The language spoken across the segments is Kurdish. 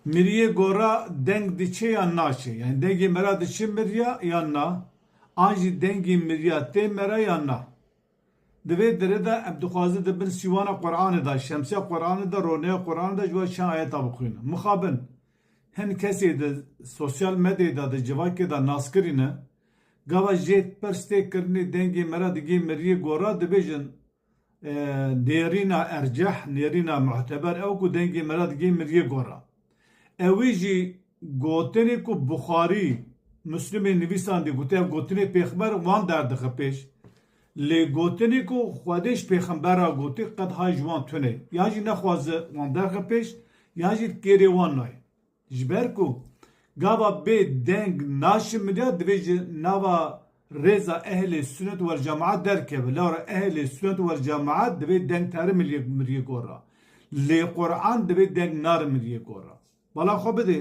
Miriyê gora deng diçe yan naçe? Yanî dengê mera diçe miriya yan na? An jî dengê miriya tê mera yan na? Di vê derê de em dixwazin di bin sîwana Quranê de, şemsiya Quranê de, roneya Quranê de ji we çend ayeta bixwînin. Mixabin hin kesê di sosyal medyayê de, di civakê de naskirî ne. Gava jê pirs tê kirinê dengê mera digê miriyê gora dibêjin, Nêrîna erceh, nêrîna muhteber ew ku dengê mela di geh miriyê gora. Ewî jî gotinê ku Buxarî, Muslimê nivîsandî gotiye ev gotinê pêxember wan derdixe pêş. Lê gotinê ku Xwedê ji pêxember re gotî qet hay ji wan tune ye. Yan jî nexwaze wan derxe pêş yan jî kêrê wan nayê. Ji ber ku gava bê deng naşimîne divê ji nava rêza ehlê sunet wel cemaat derkeve. Lewra ehlê sunet wel cemaat divê deng terimrîye gorra. Lê Quran divê deng narimrîye gorra. Bala xwe bidê.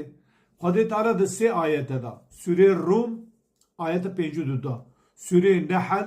Xwedê Teala di sê ayete de, Sûreyê Rûm ayete pêncû du de, Sûreyê Nehl,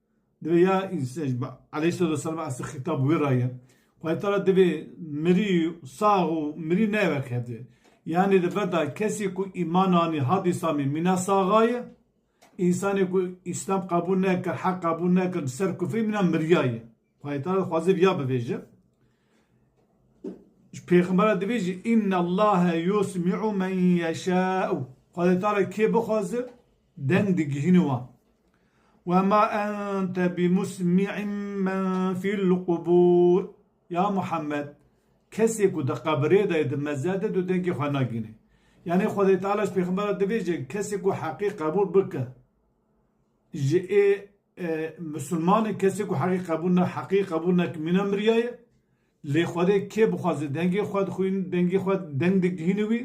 Divê ya înse ji bo Aleyhisselatüsselam asê xîtab wê ra ye. Xwedê Teala divê mirî, sax û mirî neywe kevdê. Yanî li ber de kesî ku îman anî hat Îslamê mîna saxa ye, însanê ku Îslam qebûl nekir, heq qebûl nekir bi ser kufrê mîna miriya ye. Xwedê Teala dixwaze viya bivêje. Ji pêxemberan divê jî Înnellâhe yusmi'u men yeşâ'u. Xwedê Teala kê bixwaze Deng digihîne wan. Ve ma ente bimusmi'in men fil qubur. Ya Muhammed, kesê ku di qebirê de ye di meze de tu dengê xwe nagihînî. Yanî Xwedê Teala ji pêxemberan dibêje, kesê ku heqê qebûl bike ji ê misilmanê kesê ku heqê qebûl ne heqê qebûl neke mîna miriyaye. Lê Xwedê kê bixwaze dengê xwe dixwîne dengê xwe deng digihîne wî,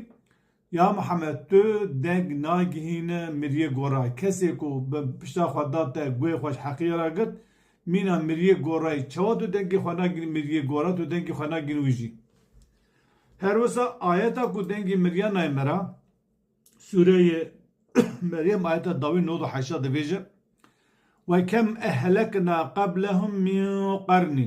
Ya Mihemed tu deng nagihîne miriyê gora kesê ku bi pişta xwe da te guhê xwe ji heqiyê re girt mîna miriyê gorayî çawa tu dengê xwe nagihînî miriyê gora tu dengê xwe nagihînî wî jî her wisa ayeta ku dengê miriya nayê me re sureyê Meryem ayeta dawî nod û heştad dibêje we kem ehlekna qeblehum min qernî